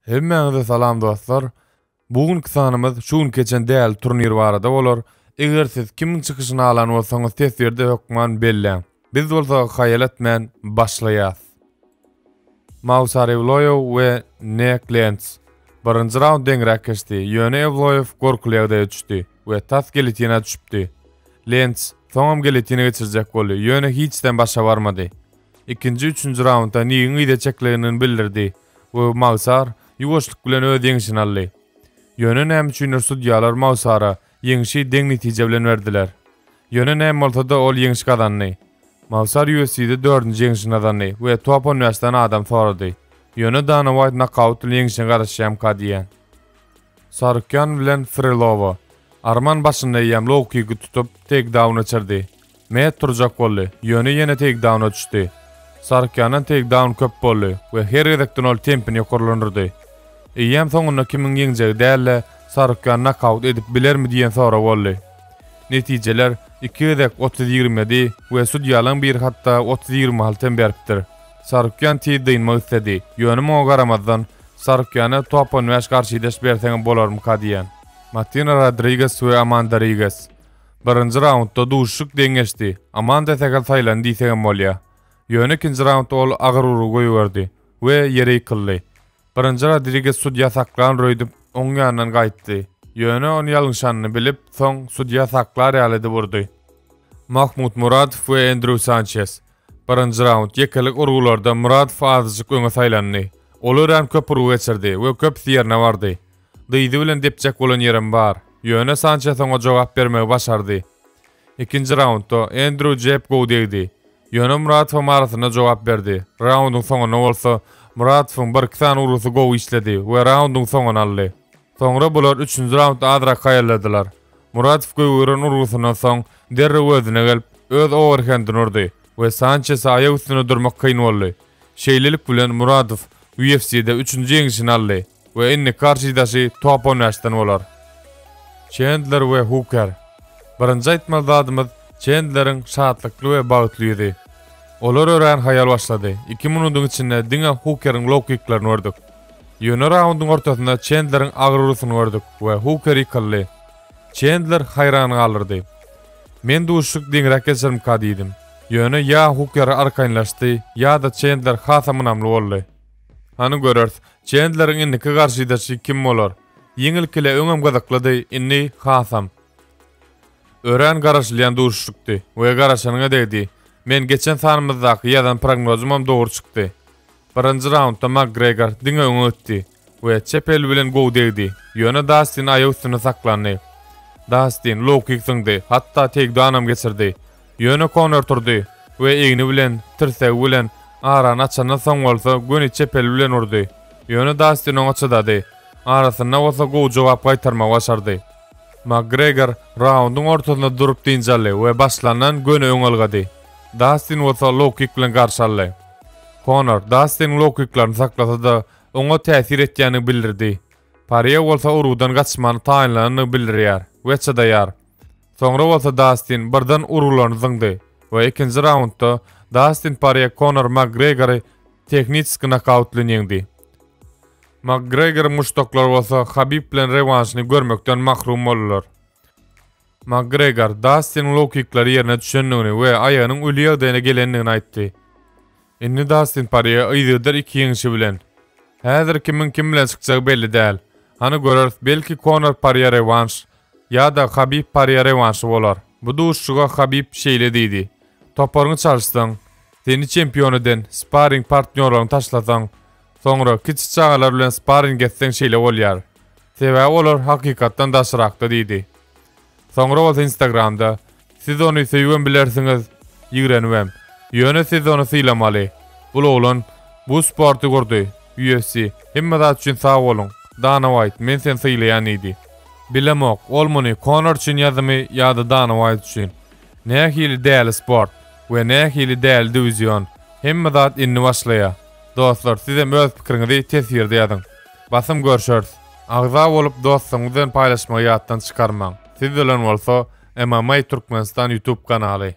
Hemmäňize salam dostlar. Bu günki sanymyz şu gün keçen däli turnir barada bolar. Eger siz kimiň çykyşyny alan bolsaňyz teswirde hökman belläň. Biz bolsa haýal etmän başlaýas. Mausa Rewloýow we Nek Lentz. Birinji raund deňräk geçdi, ýöne Ewloýow gorkuly ýagdaýa düşdi we tas gelitina düşüpdi. Lentz soňam gelitina geçirjek boldy, ýöne hiç zem başa barmady. Ikinji, üçünji raundda Nigiň yza çeklendigini bildirdi we Magsar ýuwaşlyk bilen öz ýeňşini aldy. Ýöne näme üçindir sudýalar Magsara ýeňşi deň netije bilen berdiler. Ýöne näme bolsa-da ol ýeňiş gazandy. Magsar UFC-de dördünji ýeňşini gazandy we top on bäş sany adam sorady. Ýöne Dana Waýt nokaut bilen ýeňişine garaşýamyka diýýän. Sarukýan bilen Frilowa. Arman başynda eýýäm low-kiki tutup, teýkdaun geçirdi. Met turjak boldy, ýöne ýene teýkdauna düşdi. Sarkýandan teýkdaun köp boldy we her gezekden ol tempini ýokarlandyrdy. Eýýäm soňunda kimiň ýeňjegi däl-de, Sarkýan nokaut edip bilermi diýen sorag boldy. Netijeler iki gezek otuz ýigrimi ýedi we sudýalaň biri hatda otuz ýigrimi alty hem beripdir. Sarkýan tiz dynmak isledi, ýöne muňa garamazdan, Sarkýana top on bäş garşydaş berseňem bolarmyka diýen. Matina Rodriges we Amanda Riges. Birinji raundda duşuşyk deň geçdi, Amanda Segel saýlandy diýsegem bolýar. Ýöne ikinji raundda ol agyr urgy goýberdi we ýere ýykyldy. Birinji Rodriges sudýa saklandyr öýdüp, oň ýanyndan gaýtdy. Ýöne ony ýalňyşanyny bilip, soň sudýa saklar ýaly edip urdy. Mahmut Muradow we Endrýu Sançes. Birinji raund ýekelik urgularda Muradow azajyk öňe saýlandy. Ol örän köp urgy geçirdi we köpüsi ýerine bardy. Dyzy bilen depjek bolan ýerem bar, ýöne Sançes oňa jogap bermegi başardy. Ikinji raundda Endrýu jeb gowy degdi, ýöne Muradowyň arasyna jogap berdi. Raundyň soňunda bolsa, Muradowyň birki sany urgusy gowy işledi we raundyň soňuny aldy. Soňra bular üçünji raundda azrak haýalladylar. Muradow gögeren urgusyndan soň, derrew özüne gelip, öz owerhendini urdy we Sançese aýak üstünde durmak kyn boldy. Şeýlelik bilen Muradow UFC-de üçünji ýeňişini aldy. We indi karşydaşy top on bäş den bolar. Çendler we Huker. Birinji aýtmaly zadymyz Çendleriň şatlykly we bagtly ýüzi. Olar örän haýal başlady. Iki minudyň içinde diňe Hukeriň low kiklerini gördük. Ýöne raundyň ortasynda Çendleriň agyr urusyny gördük we Huker ýykyldy. Çendler haýran galyrdy. Men duşuşyk deňräk geçerimka diýdim. Ýöne ýa Huker arkaýynlaşdy, ýa-da Çendler hasam ynamly boldy. Hany göreris, Çendleriň indiki garşydaşy kim bolar? Ýeňilkile öňem gyzyklydy, indi hasam. Örän garaşylýan duşuşykdy we garaşanyňa degdi. Men geçen sanymyzdaky ýazan prognozymam dogry çykdy. Birinji raundda Makgregor diňe öňe ötdi we çep eli bilen gowy degdi, ýöne Dastin aýak üstünde saklandy. Dastin low-kik zyňdy, hatda teýkdownam geçirdi. Ýöne Konor turdy we egni bilen, tirsegi bilen arany açandan soň bolsa göni çepeli bilen urdy. Ýöne Dastin oňa çydady. Arasynda bolsa gowy jogap gaýtarmagy başardy. Makgregor raundyň ortasynda durup dynç aldy we başlandan göni öň ylgady. Dastin bolsa low-kik bilen garşy aldy. Konor Dastiniň low-kiklaryny saklasa-da, oňa täsir etýändigini bildirdi. Parýe bolsa urgudan gaçmany taýynlanandygyny bildirýär we çydaýar. Soňra bolsa Dastin birden urgularyny zyňdy we ikinji raundda Dastin Porýe Konor Makgregory tehnitski nokaut bilen ýeňdi. Makgregoryň muşdaklary bolsa Habib bilen rewanşyny görmekden mahrum boldular. Makgregor Dastiniň low-kiklary ýerine düşendigini we aýagynyň öli ýagdaýyna gelendigini aýtdy. Indi Dastin Porýe yzygider iki ýeňşi bilen. Häzir kimiň kim bilen çykjagy belli däl. Hany göreris, belki Konor Porýe rewanş Ýa-da Habib Porýe rewanşy bolar. Bu duşuşyga Habib şeýle diýdi, Toparyňy çalyşsaň, seni çempion eden sparring partnýorlaryňy taşlasaň, soňra kiçi çagalar bilen sparring etseň şeýle bolýar. Sebäbi olar hakykatdan daşrakda diýdi. Soňra bolsa Instagramda Siz ony söýübem bilersiňiz, ýigrenibem. Ýöne siz ony sylamaly. Bul oglan bu sporty gurdy, UFC, hemme zat üçin sag boluň, Dana Waýt, men seni sylaýan diýdi. Bilemok, ol muny Konor üçin ýazymy ýa-da Dana Waýt üçin. Nähili däli sport we nähili däli diwizion, hemme zat indi başlaýa. Dostlar sizem öz pikiriňizi teswirde ýazyň. Basym görşeris. Agza bolup dostlaryňyz bilen paýlaşmagy ýatdan çykarmaň. Siz bilen bolsa MMA Türkmenistan YouTube kanaly.